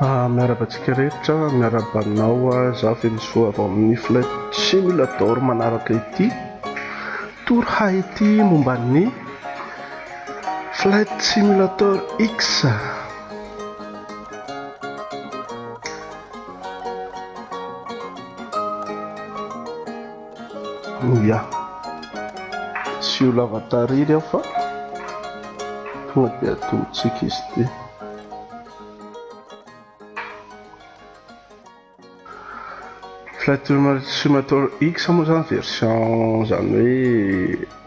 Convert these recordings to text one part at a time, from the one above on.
Ah, miaraba antsika rehetra, miaraba anao ah, za Venisoa avy amin'ny Flight Simulator manaraka ity tour Haiti momba ny Flight Simulator X. Oya, tsy ho lava tariry aho fa tonga dia atolotsika izy ity. Flight Simulator X moa zany version zany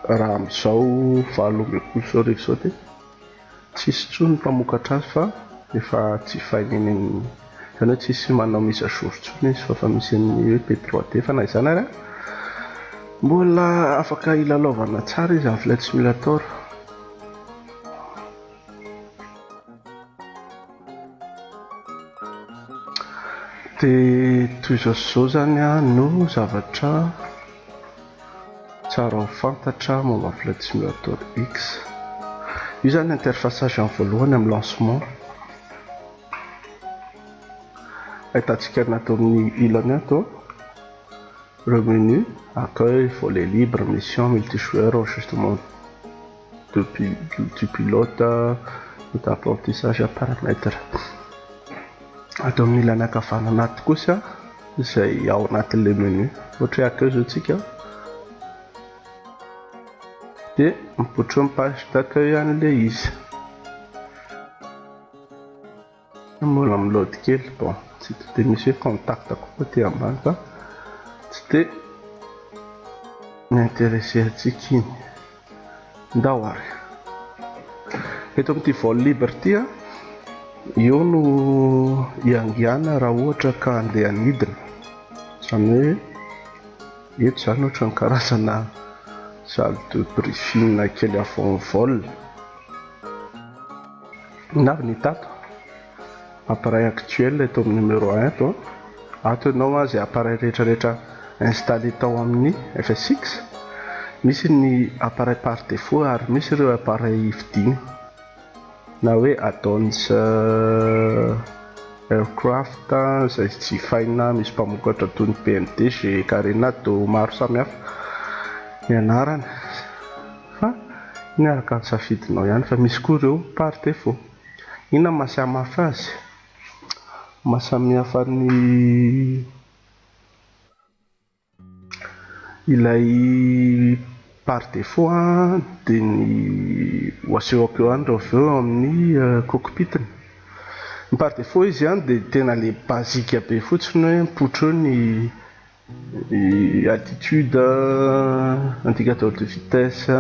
hoe raha amizao valo ambin'ny folo sy arivo zao ty. tsisy intsony ny mpamokatra azy fa efa jifaina eny amin'ny izany hoe tsisy manao mise à jour intsony izy fa efa misy an'ny hoe be droit d'efa na izany ary mbola afaka hilalaovana tsara izy amin'ny flight simulator dia toy izao sy izao izany no zavatra Tsara ho fantatra momba ny Flight Simulator X. Io izany ny interface agent voalohany amin'ny lancement. Ahitantsika ny ato amin'ny ilany ato. Ireo menu, accueil, volet libre, mission, multijoueur, enregistrement. de du pilote et d'apprentissage à paramètre. Ato amin'ny ilany ankavanana ato kosa izay ao anatin'ilay menu ohatra hoe ato izao tsika de mipoitra eo ny page d'accueil an'ilay izy. Mbola miload kely bon tsy de de misy hoe contact koa aty ambany fa tsy de mi-interesser antsika iny. Ndao ary. Eto amin'ity vol libre ity a, eo no iangiana raha ohatra ka andeha hanidina. Zany hoe eto zany ohatran'ny karazana salle de briefing kely avant vol. Navy ny tato, appareil actuel eto amin'ny numéro un eto an, ato ianao an, izay appareil rehetra rehetra installer tao amin'ny FSX, misy ny appareil par défaut ary misy ireo appareil hividiana na hoe add-ons aircraft izay jifaina, misy mpamokatra toy ny BMDG, Carenado, maro samihafa ny anarany. fa iny araka ny safidinao ihany fa misy koa ireo par défaut. Inona no mahasamafy azy? Mahasamihafa ny ilay par défaut dia ny ho asehoko eo ihany raha vao eo amin'ny cockpit-ny. Ny par défaut izy dia tena ilay basique be fotsiny hoe mipotro eo ny. Ny attitude, indicateur de vitesse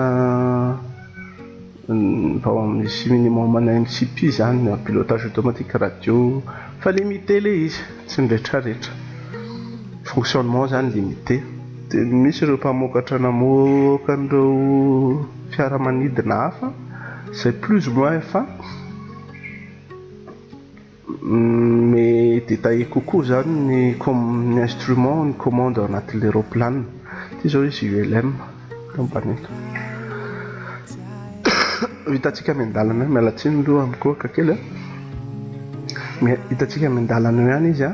vao misy minimum ana mcp zany ny pilotage automatique radio fa limite le izy tsy ny retraretra fonctionnement zany limite de misy ireo mpamokatra namoaka an'ireo fiaramanidina hafa zay plus ou moins efa Me détailler kokoa zany ny ny instrument ny commande ao anatin'ilay roplanina ity zao izy ULM eto ambany eto hitantsika any an-dalana miala tsiny loha mikohaka kely a mais hitantsika any an-dalana eo ihany izy a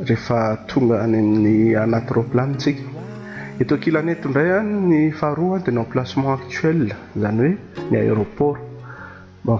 rehefa tonga any amin'ny anaty roplanina tsika eto ankilany eto indray any ny faharoa dia ny emplacement actuel zany hoe ny aéroport bon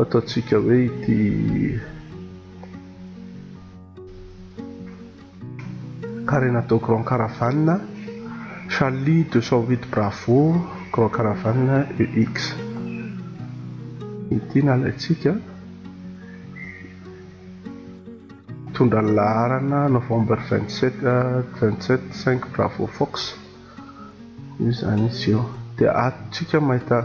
Ataontsika hoe ity Karena atao Grand Caravane Charlie 208 Bravo Grand Caravane EX ity nalaintsika Mitondra ny laharana novembre vingt sept vingt sept cinq bravo fox io zany izy io dia ato tsika mahita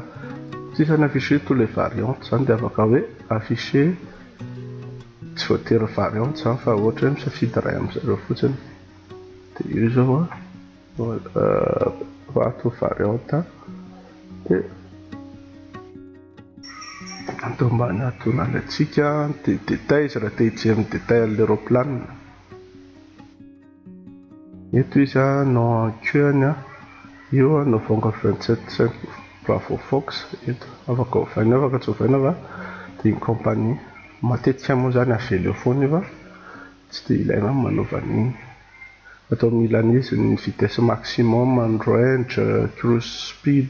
tsika ny afficher tous les variantes zany dia afaka hoe afficher tsy voatery variante zany fa ohatra hoe misafidy iray amizareo fotsiny dia io zao a euh, ato variante dia Ato ambany atonany antsika dia détails raha te hijery ny détails an'ilay raoplanina. Eto izy no en queue any io novembre vingt sept cinq bravo fox eto afaka ovaina afaka tsy ovaina fa dia ny compagnie matetika moa izany avela eo foana io fa tsy dia ilaina ny manaova an'iny. Ato amin'ny ilan'izy ny vitesse maximum, ny range, cruise speed.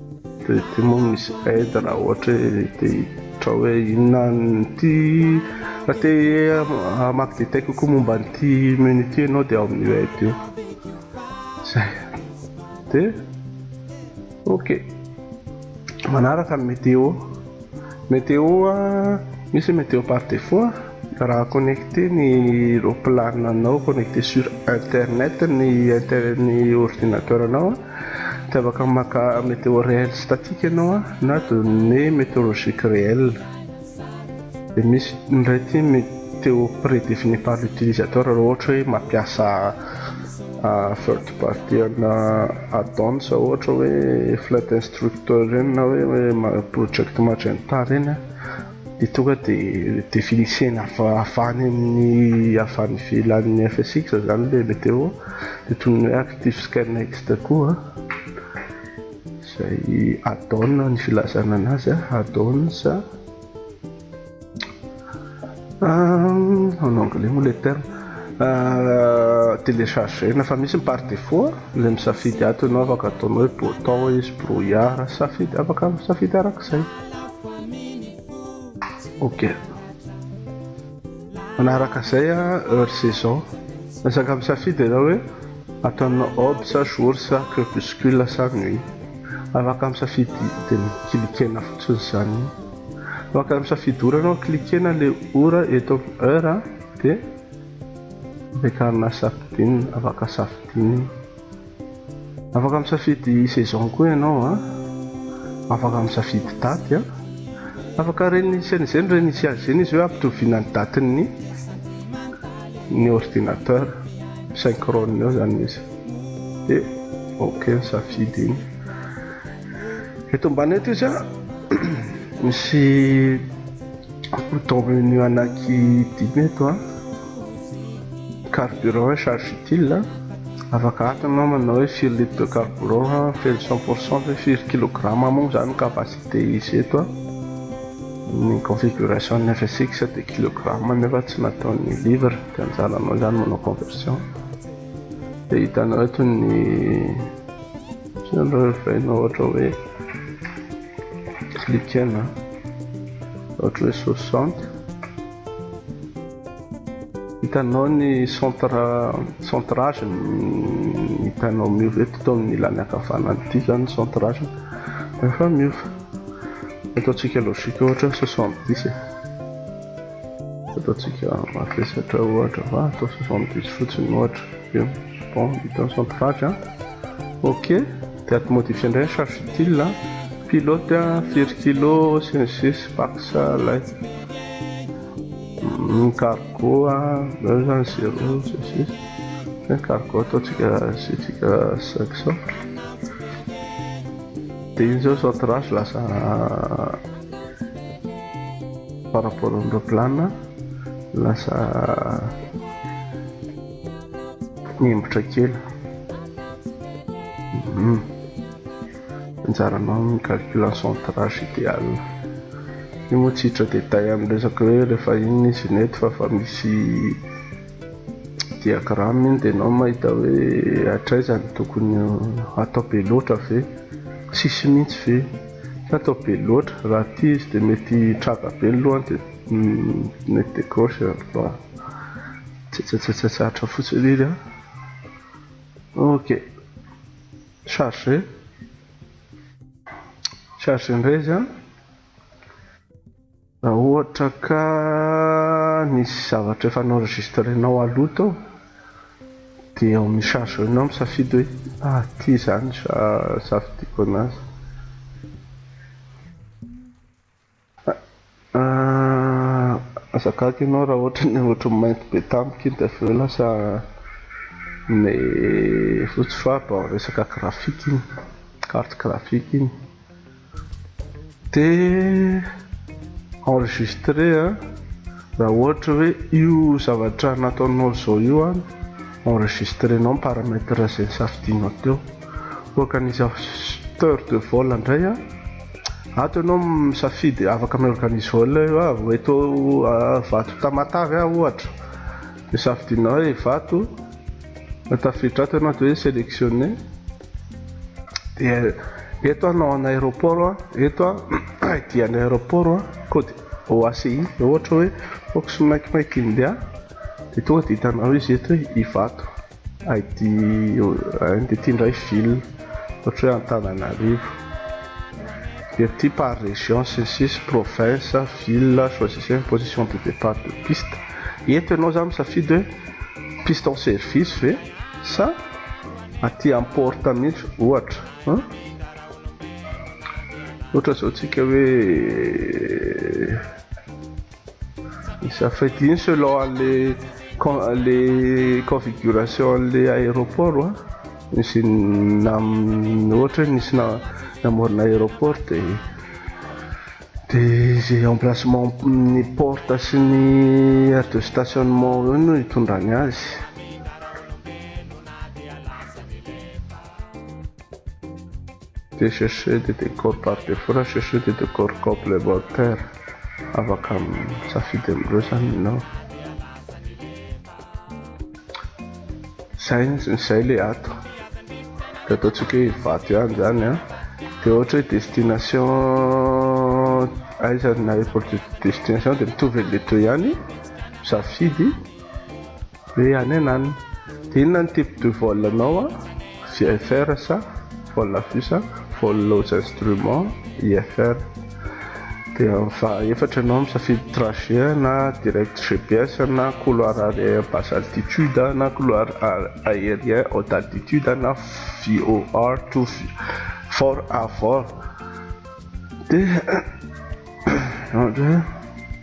Dia ity moa misy aide raha ohatra hoe te hiditra hoe inona an'ity raha te hamaky détail kokoa momba an'ity menu ity ianao dia ao amin'io aide io. Zay. Dia ok. Manaraka ny météo. Météo misy météo par défaut raha connecté ny roplananao connecté sur internet ny inter ny ordinateur anao. Tsy afaka maka météo réel statique ianao a, na données météorologiques réelles. Dia misy indray ity météo prédéfinie par l'utilisateur raha ohatra hoe mampiasa third party ana add-ons ohatra hoe flight instructor ireny na hoe project magenta ireny a. dia tonga dia definisena avy any amin'ny avy any ivelan'ny FSX izany ilay météo dia toy ny hoe active sky next koa izay add-on ny filazana anazy add-ons en anglais moa ilay terme télécharger-na fa misy ny par défaut ilay misafidy ato ianao afaka ataonao hoe botão izy brouillard safidy afaka misafidy arak'izay ok manaraka izay a heure saison resaka misafidy ianao hoe ataonao ob sa jour sa crepuscule sa nuit afaka misafidy dia mikilikena fotsiny izany afaka misafidy ora anao kilikena le ora eto amin'ny heure dia ampiakarina safidiny afaka safidiny Afaka misafidy saison koa ianao a, afaka misafidy daty a, afaka ren'ny CNG ny ren'ny CAG ny izy hoe ampitoviana ny datin'ny ny ordinateur synchrone eo zany izy de ok ny safidy iny eto ambany eto izy a misy bouton menu anaky dimy eto a Carburant et charge utile, afaka atony namana hoe firy litre de carburant ha feno cent pour cent ve firy kilograma moa izany ny capacité izy eto a, ny configuration ny FSX dia kilograma nefa tsy natao ny livre dia anjaranao izany manao conversion dia hitanao eto ny ohatran'ireo reverenao ohatra hoe cliquer na ohatra hoe soixante Hitanao ny centre centre âge ny hitanao miova eto tao amin'ny ilany ankavanana ity izany ny centre âge dia efa miova ataontsika logique ohatra soixante dix e ataontsika mavesatra ohatra va atao soixante dix fotsiny ohatra dia bon hita ny centre âge a ok dia ato modifie indray ny charge utile a pilote a firy kilo sy ny sisy pax lay ny cargo zany zany zero sisy ny cargo ataontsika sitsika cinq cent de iny zao cent raso lasa par rapport amindreo plana lasa nembotra kely hmm. anjaranao amin'ny calcul centrage ideal. Io moa tsy hiditra détail amin'ny resaka hoe rehefa inona izy iny eto fa fa misy diagramme iny dia enao mahita hoe hatraiza no tokony hatao be loatra ve? Tsisy mihitsy ve? Tsy atao be loatra, raha aty izy dia mety hitraga be ny lohany dia mety décroche bon. Tsetsetsetsetsatra fotsiny iny an. Ok. Chargé chargé indray izy an! Raha ohatra ka nisy zavatra efa n'enregistrenao aloha tao dia eo amin'ny chargé nao misafidy hoe ah ty izany sa safidiako anazy. Aah aza gaga ianao raha ohatra ny ohatran'ny mainty be tampoka iny de avy eo lasa ny fotsy fa bao resaka graphique iny carte graphique iny de enregistré a raha ohatra hoe io zavatra nataonao zao io a enregistré nao ny paramètre zay safidianao teo. Organisateur de vol ndray a, ato ianao misafidy afaka mi-organise vol eo a, eto Ivato Tamatave a ohatra de safidinao hoe Ivato, de tafiditra ato ianao de hoe selectionner, de eto a nom an'aéroport a, eto a ID an'ny aéroport a, code OACI raha ohatra hoe Fox Mike Mike India de tonga de hitanao izy eto hoe Ivato. ID ID ity indray ville ohatra hoe Antananarivo dia ity par région sy ny sisa province ville choisissez une position de départ de piste eto ianao zany misafidy hoe piste en service ve sa aty am porte mihitsy ohatra ohatra zao tsika hoe Iza fety iny selon anle le configuration anle aéroport wa nisy nam ohatra hoe nisy namorona aéroport de de ze emplacement ny porte sy ny aire de stationnement eo no hitondrany azy. Des chercheurs de décor par défaut na chercheurs de décor complémentaire afaka misafidy amin'ireo zany ianao. Zay zay le ato. De ataontsika hoe Ivato ihany zany a. De ohatra hoe destination aiza na airport de destination de mitovy an'le teo ihany. Misafidy. Ee any an any. Dia inona ny type de vol anao an? VFR sa? Vol à vue sa? Vol aux instruments? IFR. Dia fa efatra ianao misafidy trajet na direct GPS na couloir aérien basse altitude na couloir aérien haute altitude na VOR to for à vor. Dia.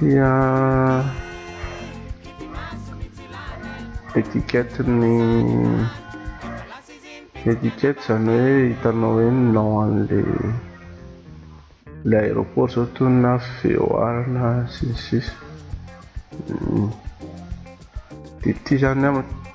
dia etiquette ny etiquette zany hoe hitanao hoe nao an'le le aéroport zao toy na VOR na sisy sisy dia ity zany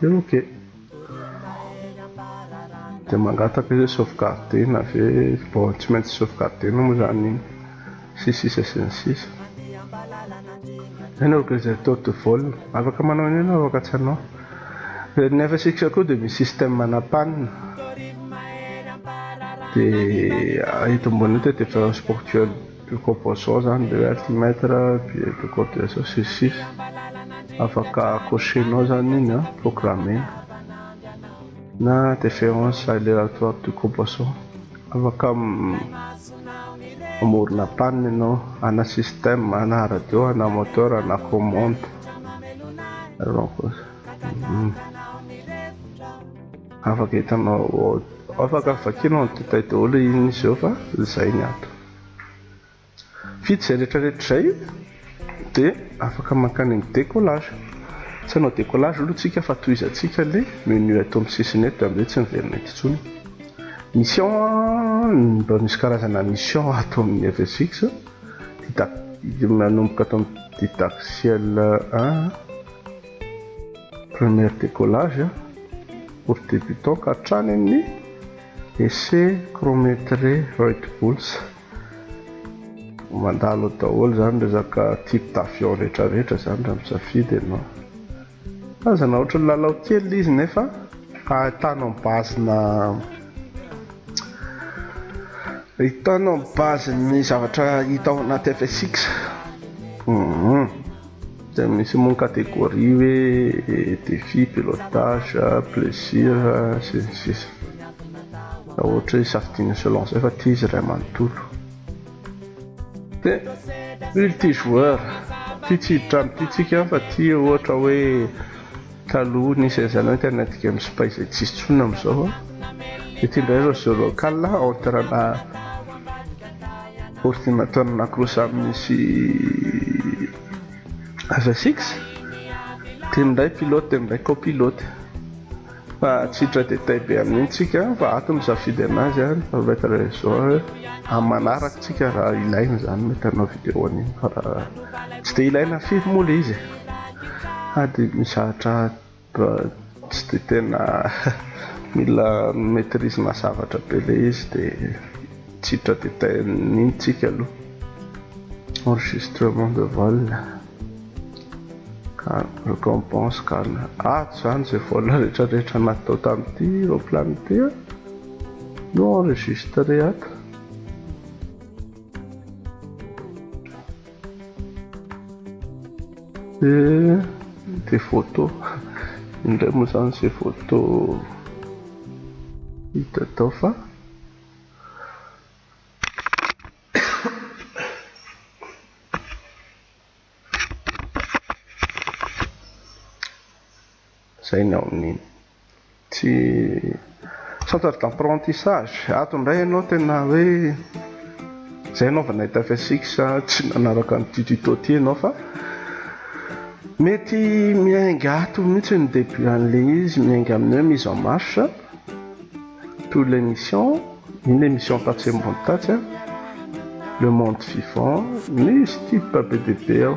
dia ok dia mangataka izy hoe sauvegarder na ve bon tsy maintsy sauvegarder na moa izany iny sy sisa sy ny sisa any organisateur de vol afaka manao an'io ianao afaka tsy hanao dia ny FSX koa dia misy système manapanina dia eto ambony eto dia efa spirituel De koa vao zao zany le health metre dia de koa dia zao sisy sisa afaka cocher-nao zany iny an, programme-na na deference aléatoire de coboisson afaka mamorona panne ianao ana système ana radio ana moteur ana commande alors afaka hitanao afaka vakianao ny détail daholo iny izy eo fa zay ny ato. Vita izay rehetrarehetra izay dia afaka mankany amin'ny décollage. Tsy hanao décollage aloha isika fa tohizantsika ilay menu eto amin'ny sisiny eto dia amin'izay tsy miverina eto intsony. Mission, mba misy karazana mission ato amin'ny FSX. Manomboka ato amin'ny didactiel 1, première décollage pour débutant ka hatrany amin'ny Essai chrométré Reutepuls, mandalo ao daholo izany resaka type d'avion rehetra rehetra izany raha misafidy ianao. Tazana ohatry ny lalao kely ilay izy nefa ahitanao ny base-na ahitanao ny base-n'ny zavatra hita ao anaty FSX. Hum. Dia misy moa ny catégorie hoe défi, pilotage, plaisir, sy ny sisa Raha ohatra hoe safidiana selon izay fa ity izy iray manontolo Dia multijoueur, ity tsy hiditra amin'ity tsika fa ity ohatra hoe Taloha nisy an'izany hoe tena tika misipay izay tsisy tsony amin'izao. Ity indray izao jeu local entre ana ordinateur nacross amin'ny sy avsx. Ity indray pilote ity indray copilote. Fa tsy hiditra détail be amin'iny tsika fa ato ny safidy anazy a, ny maître réseau a. Amin'ny manaraka tsika raha ilaina izany mety hanao vidéo an'iny fa raha tsy dia ilaina firy moa le izy e. Aah dia mizatra tsy dia tena mila mi-maitrise-na zavatra be ilay izy dia tsy hiditra détail mihitsy tsika aloha. Enregistrement de vol, récompense, cala. Ato izany izay vol rehetrarehetra natao tamin'ity roplano ity no enregistré ato. Eh, des photos. Indray moa zany izay photo hita tao fa izay ny ao amin'iny. Tsy centre d'apprentissage. Ato indray ianao tena hoe izay ianao vao nahita fsix tsy nanaraka an'ity tuto ity ianao fa mety miainga ato mihitsy ny début an'ilay izy, miainga amin'ny hoe mise en marche tous les missions, iny ilay mission tatsy ambony tatsy a, le monde vivant, misy tips be dia be ao.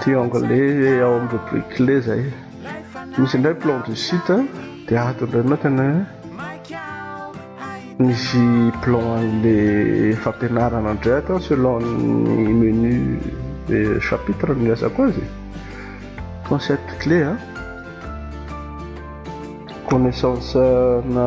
Triangle ao amin'ny rubrique clé zay. Misy indray plan du site dia ato indray mantsana misy plan an'le fampianarana indray ato selon ny menu chapitre ny resako azy. Concept clé a. Connaissance na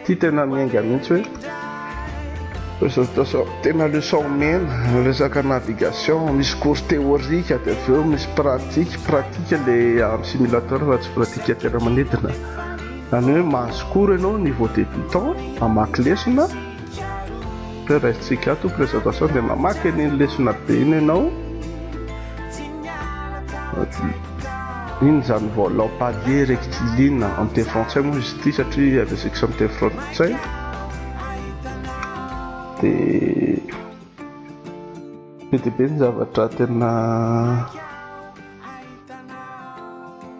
Ity tena miainga mihitsy hoe tena leçon omena resaka navigation misy cours théorique dia avy eo misy pratique pratique le amin'ny simulateur fa tsy pratique an-toerana manidina izany hoe mahazo cours ianao niveau débutant mamaky lesona hoe raisintsika ato présentation dia mamaky an'iny lesona be iny ianao Inona izany vao lampadier rectiligne amin'ny teny frantsay moa izy ity satria avy asics amin'ny teny frantsay dia be dia be ny zavatra tena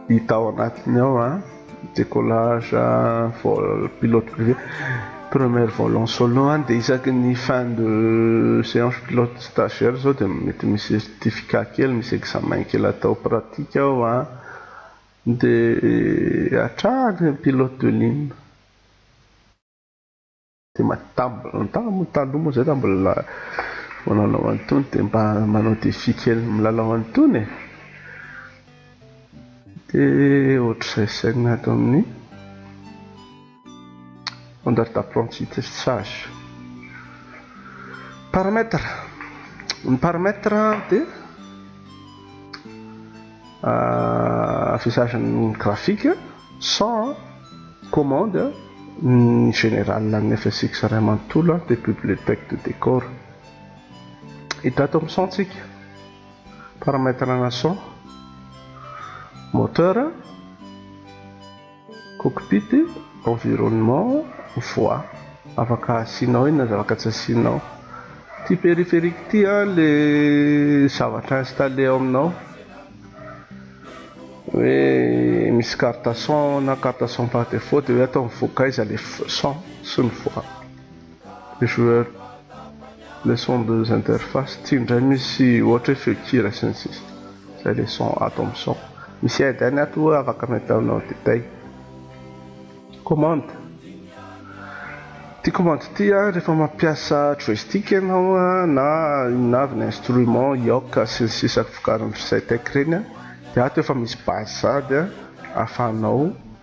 hita ao anatiny ao a décollage vol pilote privé première vol en solo any dia isaky ny fin de séance pilote stagiaire izao dia mety misy certificat kely misy examen kely atao pratique ao an dia hatrany pilote de ligne Tena tam- tam- taloha moa zay raha mbola manao an'itony dia mba manao défi kely milalao an'itony e. Dia ohatr'izay sainina ato amin'ny standard d'apprentissage. Paramètre. Ny paramètre dia affichage ny graphique sans commande ny général ny FSX ray manontolo de bibliothèque de décor hita ato amin'ny son tsika paramètre ana son moteur Cockpit, environnement, voie, afaka asianao eny na zavaka tsy asianao. Ity périphérique ity an le zavatra installé ao aminao hoe misy carte son na carte son par défaut de hoe atao mivoaka aiza le son sy ny voie. joueur le son deux interface tsy indray misy ohatra hoe feo kira sy ny sisa zay le son ato amin'ny son misy aide any ato oa afaka metaonao détail commande ty commande ty a rehefa mampiasa joystick ianao a na inona avy ny instrument yoc sy ny sisa vokarin'ny ry zytec reny a dia ato efa misy base sady a afahanao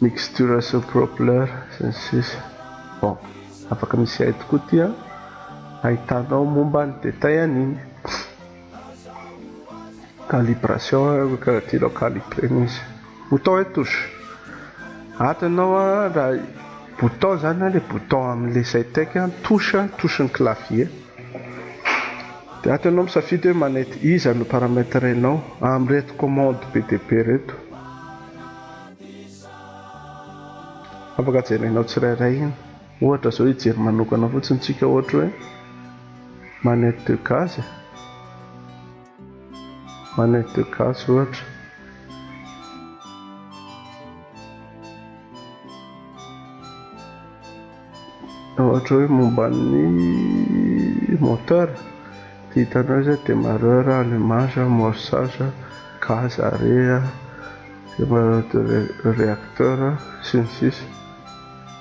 Mixturation propler sy ny sisa bon afaka misy aide koa ty an ahitanao momba ny detail an'iny calibration hoe karaha ty aloha calibrer ny izy bouton et touche ato ianao an raha bouton zany an le bouton amle Zytek an touche touche ny clavier de ato ianao misafidy hoe manety iza no paramètre enao amreto commande be dia be reto Afaka jerenao tsirairay iny. Ohatra zao hijery manokana fotsiny tsika ohatra hoe manette de gaz e. Manette de gaz ohatra. Raha ohatra hoe momba ny moteur dia hitanao izay demarreur, allumage, amorçage, gaz, arret, demarreur de reacteur sy ny sisa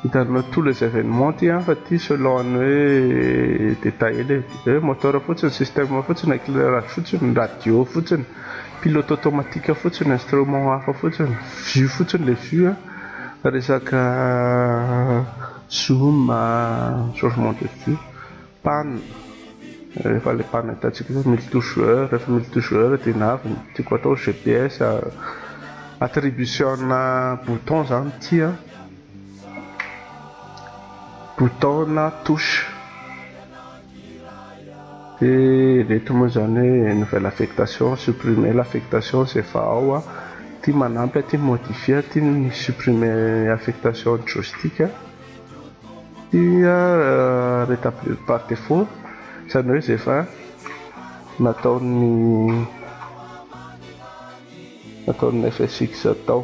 Hitanao tous les événements ity an fa ity selon ny hoe détail ela e, dia hoe moteur fotsiny, système fotsiny, éclairage fotsiny, radio fotsiny, pilote automatique fotsiny, instrument hafa fotsiny, vue fotsiny ilay vue an. Resaka zoom changement de vue, panne, rehefa ilay panne hitantsika hoe multijoueur, rehefa multijoueur dia na avy ny tiako atao GPS attribution-na bouton izany ity an, bouton-na touche. Ireto moa izany hoe nouvelle affectation, supprimer l'affectation izay efa ao a, ity manampy ity modifier ity ny supprimer affectation joystick a, ity a rétablir par défaut izany hoe izay efa nataon'ny nataon'ny FSX tao.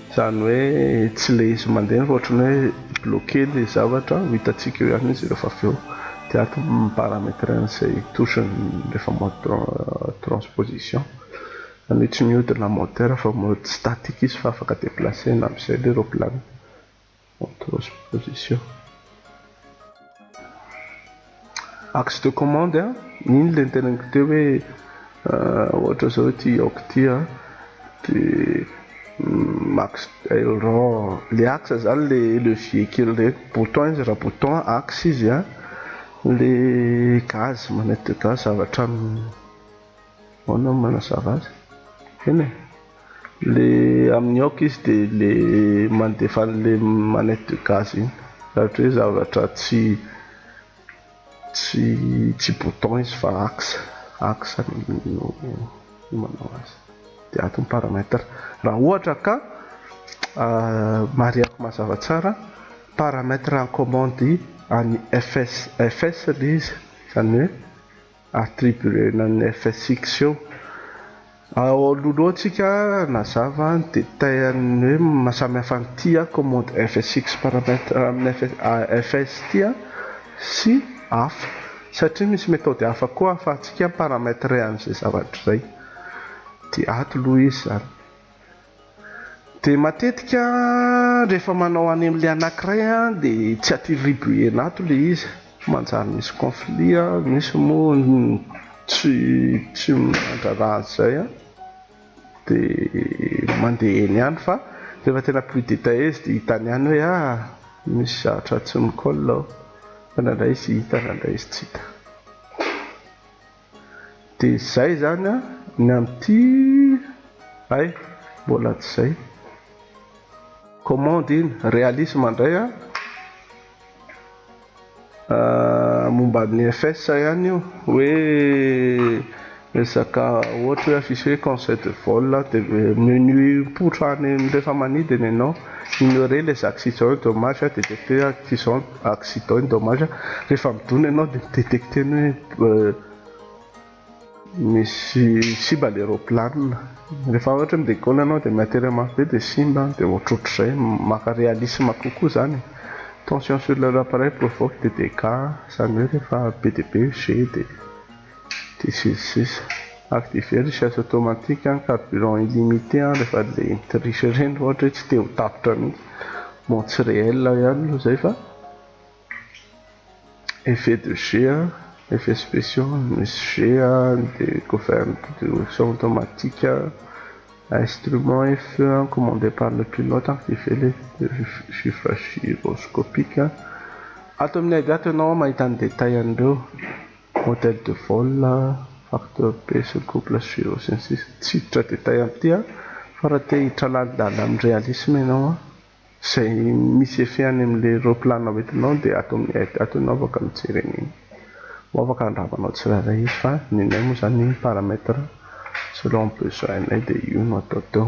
Izany hoe tsy ilay izy mandeha fa ohatran'ny hoe bloqué ilay zavatra, ho hitantsika eo ihany izy rehefa avy eo. Dia ato mi-parametre an'izay touche rehefa mode transposition. Izany hoe tsy mihodina moteur fa mode statique izy fa afaka déplacer-na amin'izay ilay roplanina. en transposition. Axe de commande a, iny le niteneniko teo hoe ohatra zao ity yaourt ity a de axe aileron, le axe zany le levier kely reny, bouton izy raha bouton, axe izy a, le gaz, manette de gaz avy hatrany. Ahoana ny manazava azy? Eny e! le amin'ny aoka izy dia le mandefa an'le manette de gaz iny raha ohatra hoe zavatra tsy tsy tsy bouton izy fa axe axe no manao azy dia ato ny paramètre raha ohatra ka mariako mazava tsara paramètre en commande any fs fs le izy izany hoe attribuena ny FSX eo. Ao anoloantsika nazava ny détail an'ny hoe mahasamihafa an'ity commande FSX paramètre amin'ny FS ity sy hafa satria misy méthode hafa koa ahafahantsika mi-parametrer an'izay zavatra izay. Dia ato aloha izy izany. Dia matetika rehefa manao anemlie anankiray dia tsy atiribuer-na ato ilay izy, manjary misy conflit, misy moa ny tsy tsy mandrara an'izay an, dia mandeha eny ihany fa rehefa tena plus detaille izy dia hitany ihany hoe ah misy zavatra tsy mi-colle ao, fa indraindray izy hita indraindray izy tsy hita. Dia zay zany an, ny amin'ity hay mbola tsy zay. Commande iny, realisme indray an, momba an'i FS ihany io, hoe resaka ohatra hoe affiche hoe conseil de vol dia menu mipoitra any rehefa manidy ny anao, ignorer les accidents dommages, DDT, accidents. accident ny dommage rehefa midona ianao dia mi-detecter ny hoe misy simba ilay roplanina rehefa ohatra mi decolle ianao dia mi-atterrir mafy be dia simba dia ohatrohatr'izay maka realisme kokoa izany e tension sur leur appareil provoque des dégats izany hoe rehefa be dia be io jet dia Dia sy ny sisa. Activer recherche automatique an, carburant illimité an, rehefa le nitriche reny ohatra hoe tsy te ho tapitra mihitsy, bon tsy réel ihany aloha zay fa effet de jeu an, effet spéciaux an, misy jeu an, de govern de option automatique an, instrument et feu an, commandé par le pilote an, activer le gyroscopique an, ato amin'ny aide ato ianao mahita ny détail an'ireo. Modèle de vol, facteur be sur couple suivant sy ny sisa Tsy hiditra détail amin'ity aho fa raha te hiditra lalindalina amin'ny réalisme ianao an, izay misy effet any amin'ilay roaplanina ho entinao dia ato amin'ny aide ato ianao afaka mijery an'iny. Ho afaka handravanao tsirairay izy fa ny anay moa izany paramètre selon besoin anay dia io no atao teo.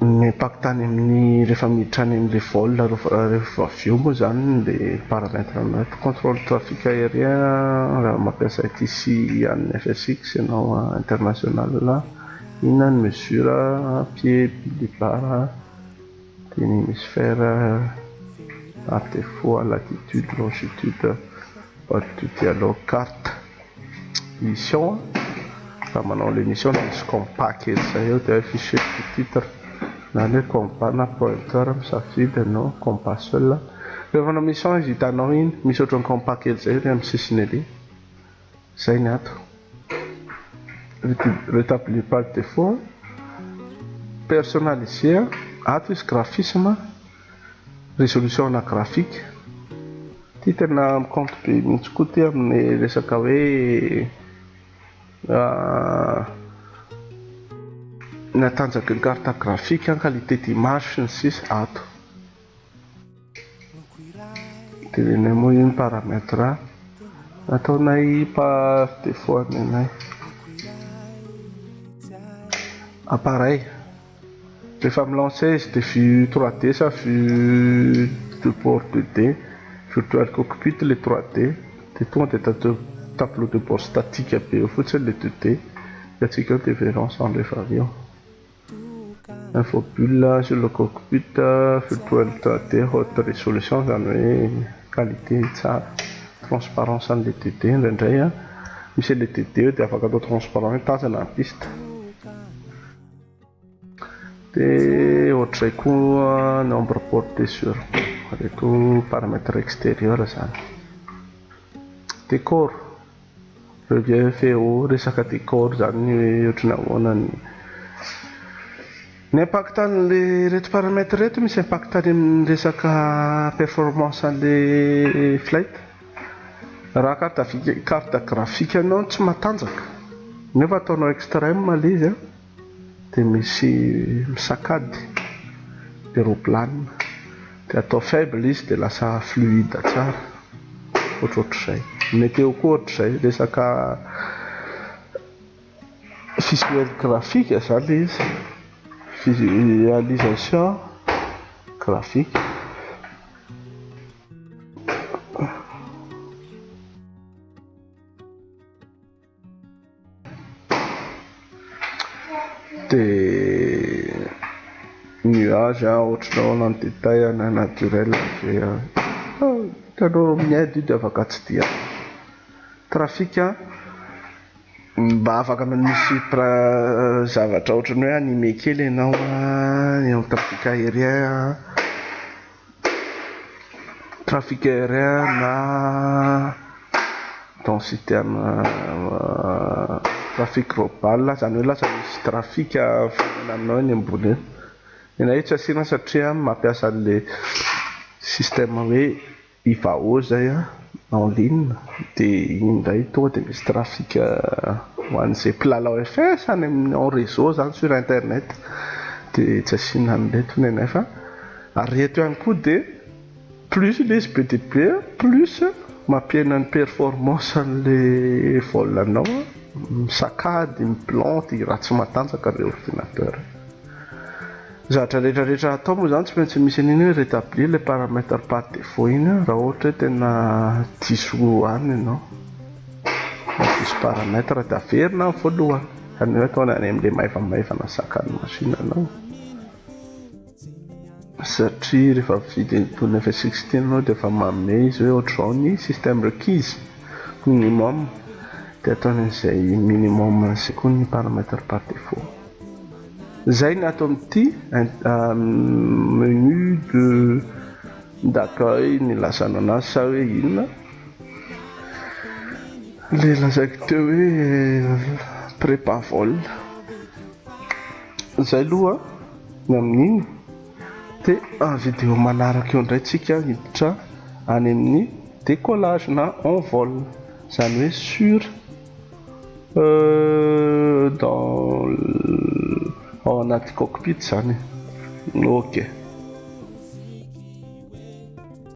Mipaka tany amin'ny rehefa miditra any amin'ilay vol rehefa avy eo moa izany ilay paramètre anao eto contrôle trafic aérien raha mampiasa ity sy an'ny FSX ianao international inona ny mesure pied billet barre dia ny hémisphère par défaut latitude longitude boîte de dialogue carte mission an, raha manao ilay mission dia misy compas kely izay eo dia afficher ny titre na ny hoe compas na pointeur misafidy ianao compas seul an, rehefa manao mission izy hitanao iny misy ohatran'ny compas kely izay ery amin'ny sisiny ery, izay ny ato retablir par defaut an, personnaliser an, ato izy graphisme an. Résolution ana graphique. Ty tena mi-compte be mihitsy koa ty amin'ny resaka hoe ny hatanjaky ny carte graphique, ny qualité d'image sy ny sisa ato. Tenenay moa io ny paramètre nataonay par défaut anenay. Appareil. Rehefa mi-lancer izy dia vue trois D sa vue de bord deux D, virtual cockpit ilay trois D dia tonga dia tadidinao tableau de bord statique be eo fotsiny ilay deux D dia antsika eo dia verrons ensemble efa avy eo. Info bulle sur le cockpit virtual trois D haute résolution izany hoe qualité tsara, transparence an'ilay deux D indraindray an, misy an'ilay deux D eo dia afaka atao transparent hoe tazana ny piste. Dia ohatr'izay koa nombre porté sur reto paramètre extérieur izany. Décor, relief et au resaka décor izany ny hoe ohatry ny ahoana ny ny impact an'ilay reto paramètre reto misy impact any amin'ny resaka performance an'ilay flight. Raha carte carte graphique anao no tsy matanjaka nefa ataonao extreme ilay izy an, dia misy misakady dia roplana, dia atao faible izy dia lasa fluide tsara, ohatrohatr'izay. Ny meteo koa ohatr'izay, resaka visuel graphique izany ilay izy, visualisation graphique. dia nuage a ohatranao na ny détail na naturel dia hitanao amin'ny aide io dia afaka tsy dia trafic a mba afaka misy pra zavatra ohatran'ny hoe animé kely ianao a ny amin'ny trafic aérien a Trafic aérien na dans citerne trafic global zany hoe lasa misy trafic mifanena aminao eny ambony eny. Tena hoe tsy asiana satria mampiasa an'le système hoe Ivao zay an, en ligne de iny indray tonga de misy trafic ho an'izay mpilalao FS any amin'ny en réseau zany sur internet de tsy asiana an'ireto nenefa. Ary eto ihany koa dia plus ilay izy be dia be plus mampihena ny performance an'ilay vol anao misakady, miplante, i ratsy matanjaka ilay ordinateur. Ny zavatra rehetra rehetra atao moa izany tsy maintsy misy an'iny hoe retablir ilay paramètre par défaut iny raha ohatra hoe tena diso any ianao na diso paramètre dia averina any voalohany fa ny hoe ataony any amin'ilay maivamaivana sakan'ny machine anao. satria rehefa mividy an'itony F sixteen anao dia efa manome izy hoe ohatr'izao ny système requis, minimum, dia ataony an'izay minimum sy koa ny paramètre par défaut. Izay ny ato amin'ity menu de d'accueil nilazana anazy sa hoe inona ilay lazaiko teo hoe prépavol. Izay aloha. Ny amin'iny dia video manaraka eo indray tsika hiditra any amin'ny décollage na en vol izany hoe sur dans ao anaty cockpit izany ok.